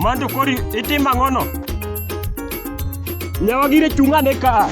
Manto kori itimo ang'ono? Nyawa gire chung'ane ka.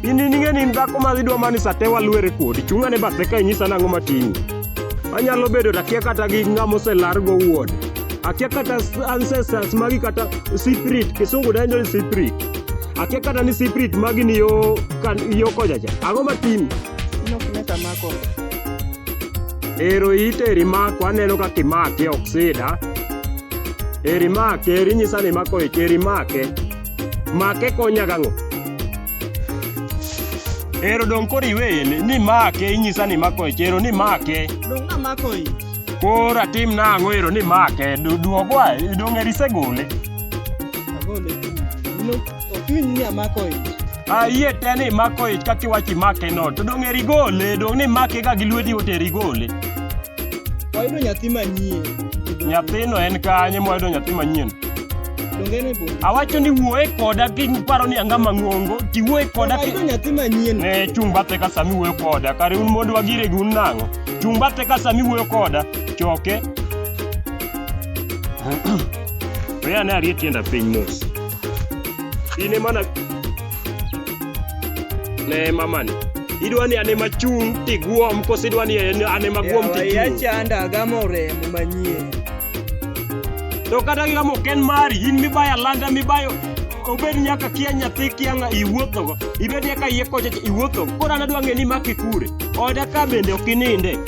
In ing'e ni in dhako ma idwa mani sate walwere kodi. Chung'ane bathe ka inyisa nang'o matinyi. Anyalo bedo to akia kata gi ng'ama oselar go wuon. Akia kata ancestors magi kata spirit, kisungu dendo ni spirit. Akia kata ni spirit magi ni yo kan yo kojacha. Ang'o matinyi? Nok ne samako. Ero ite eri mako aneno ka kimake ok sida. Eri make, eri nyisa ni mako ike, eri make. Make konya gang'o? Ero dong koro iweye ni, ni make, inyisa ni mako ike, ero ni make. Dong amako i. Koro atim nang'o ero ni make, du- duogwa, dong eri isegole. Agole. Ilo. Ochuny ni amako ich. Ayie te ni imako ich kaka iwacho imake no. To dong' eri gole, dong' ni imake ga gi lweti oteri gole. Wayudo nyathi manyien. Nyathino en kanye mwayudo nyathi manyien? Donge en e bungu? Awacho ni wuoye koda kiparo ni anga mang'ongo, tiwuoye koda ki... Wayudo nyathi manyien. Ne chung' bathe ka sami wuoyo koda, kare un mondo wagire gi un nang'o? Chung' bathe ka sami wuoyo koda, choke. We ane arie tienda piny mos. In ema na ne mamani. Idwa ni ane machung' tiguom koso idwa ni en- ane maguom Yawa, tichung'. yachanda agamo remo manyien To kata kika mok en mari, in mibayo alanda mibayo obed nyaka kia nyathi kia ng'a iwuothogo, ibed nyaka iye kocha iwuothogo. Koro an adwa ng'e ni imake kure. Oda ka bende ok ininde.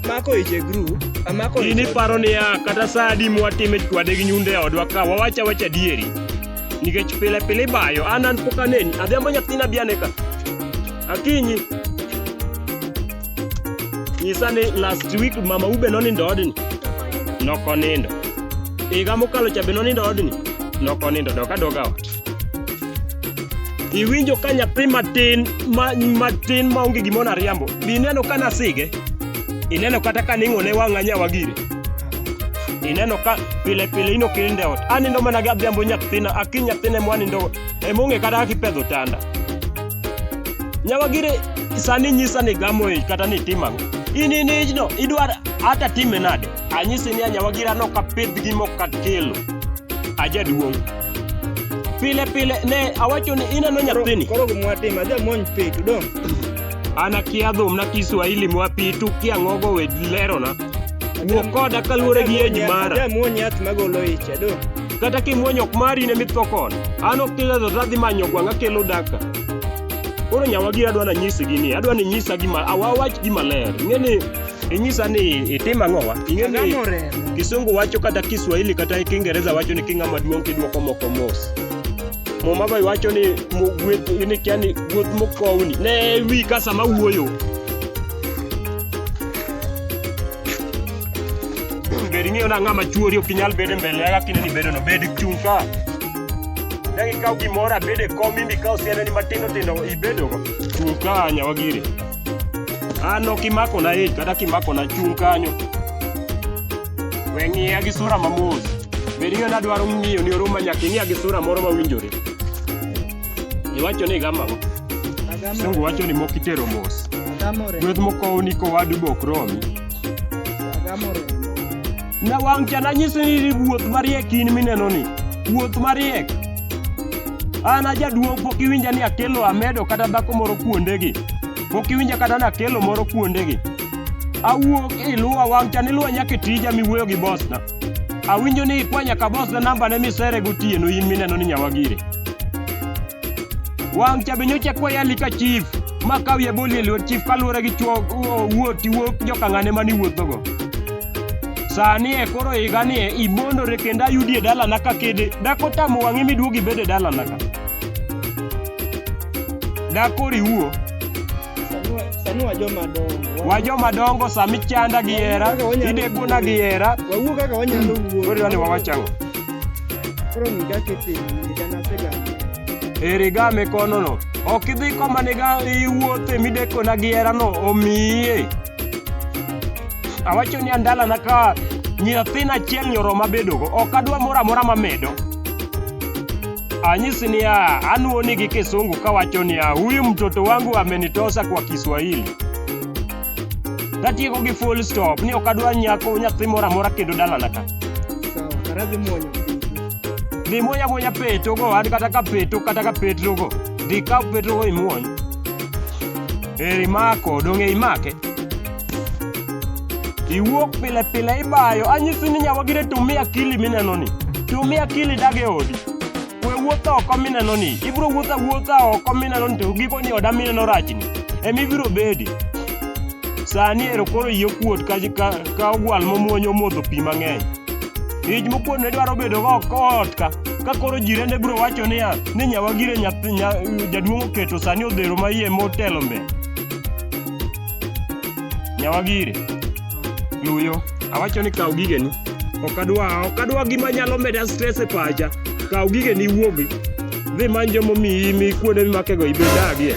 Amako ich e group, amako ich. In iparo niya kata saa adi mwatime chwade gi nyundo e odwa ka wawacha wacha dieri. Nikech pile pile ibayo, an an pok aneni, adhiambo nyathina bi ane ka. Akinyi. Nyisa ni last week mama ube nonindo odni. Nokonindo. Higa mokalo cha be nonindo odni. Nokonindo dok adoga ot. iwinjo ka nyathi matin ma, matin ma onge gimoro ariambo be ineno ka nasige ineno kata ka ning'one wang'a nyawagire ineno ka pile pile ino kilinde ot anindo mana gi adhiambo nyathina aki nyathine mwanindo emong'e kata kaka ipedho tanda nyawagire sani nyisa ni gamo ich kata ni tim ang'o in in ijno idwar ata time nade anyisi ni anyawagire anok apidh gi mok akelo ajaduong' Pile pile ne awacho ni ineno nyathini. Koro gimwatim adhi amony pi to dong'. An akia dhum na Kiswahili mwa pi to kia ngogo we lerona. Wuo koda kaluwore gi age mara. Adhi amwony yath magolo ich adong'. Kata kimwony ok mari ne mitho kono. An ok kiledho to adhi manyo gwang' akelo daka. Koro nyawagi adwa nanyisgi ni adwa ninyisa gima awawach gima ler. Ing'e ni Inyisa ni itim ang'owa? Ing'e ni Angamo remo. Kisungu wacho kata Kiswahili kata Kiingereza wacho ni king'ama duong' kidwoko moko mos. Muma be wacho ni mu- gweth ni kia ni gweth mokowni. Ne wi ka sama wuoyo. Bed ing'eyo na ng'ama chuori ok inyal bedo e mbele ya kaka ineni bedono. Bed chung' ka. Ne ikaw gimoro abed e kom imbi ka osianeni matindo tindo ibedogo. Chung' ka nyawagiri. An ok imakona ich kata kimakona chung' kanyo. We ng'iya gi sura mamos. Bed ni nadwaro ng'iyo ni oruma nyaka ing'iya gi sura moro mawinjore. Iwacho ni gama ang'o? Sungu wacho ni mok itero mos. Agamore. Gweth mokowni kowadu bok romi. Agamore. Nyawang' cha nanyisi ni iwuoth mariek in mineno ni. Wuoth mariek. An ajaduong' pok iwinja ni akelo amedo kata dhako moro kuondegi. Pok iwinja kata ni akelo moro kuondegi. Awuok iluwa wang' cha niluwa nyaka e tija miwuoyo gi bosna. Awinjo ni ikwa nyaka bosna nambane misere gotieno in mineno ni nyawagiri. Wang' cha be nyocha kwayo alika chief ma kawi aboli e lwet chief kaluwore gi chwo wuoti wuok jokang'ane mane iwuothogo. Sani e koro higa ni e ibondore kendo ayudi e dalana ka kede. Dak otamo wang'i miduog ibed e dalana ka. Dak koro iwuo. Sani wa joma dongo. Wa joma dongo sami chanda gi hera, idekona gi hera. Wawuo kaka wanyalo wuo. Koro idwani wawach ang'o? Koro ng'i kaka itimo, higa nasegamo. E riga mikonono, ok idhi koma niga iwuothe midekona gi herano omiye. Awacho ni andalana ka nyathina achiel nyoroma bedogo ok adwa moro amora mamedo anyisi niya anuoni gi kisungu kawacho niya huyu mtoto wangu amenitosa kwa kiswahili tatieko gi full stop ni ok adwa nyako nyathi moro amora kendo dalana ka dhi muonya muonya petogo an kata ka peto kata ka petrogo dhi ka petrogo imuony Eri mako, donge imake? Iwuok pile pile ibayo, anyisi ni nyawagire tumi akili mineno ni. Tumi akili dage odi. We wuotho oko mineno ni, ibiro wuotho awuotha oko mineno ni to giko ni oda mineno rachni. Emi biro bedi. Sani ero koro yie kuot ka, ka, ka ogwal momuonyo modho pi mang'eny. Ij mokuot ne dwaro bedo go ot ka. ka koro jirende biro wacho niya ni nyawagire nyathi nya, jaduong' oketo sani odhero ma iye motelo mbe nyawagire luyo awacho ni kaw gigeni ok adwa ok adwa gima nyalo meda stress e pacha kaw gigeni iwuogi dhi many joma omiyi mi kuonde mimakego ibedagie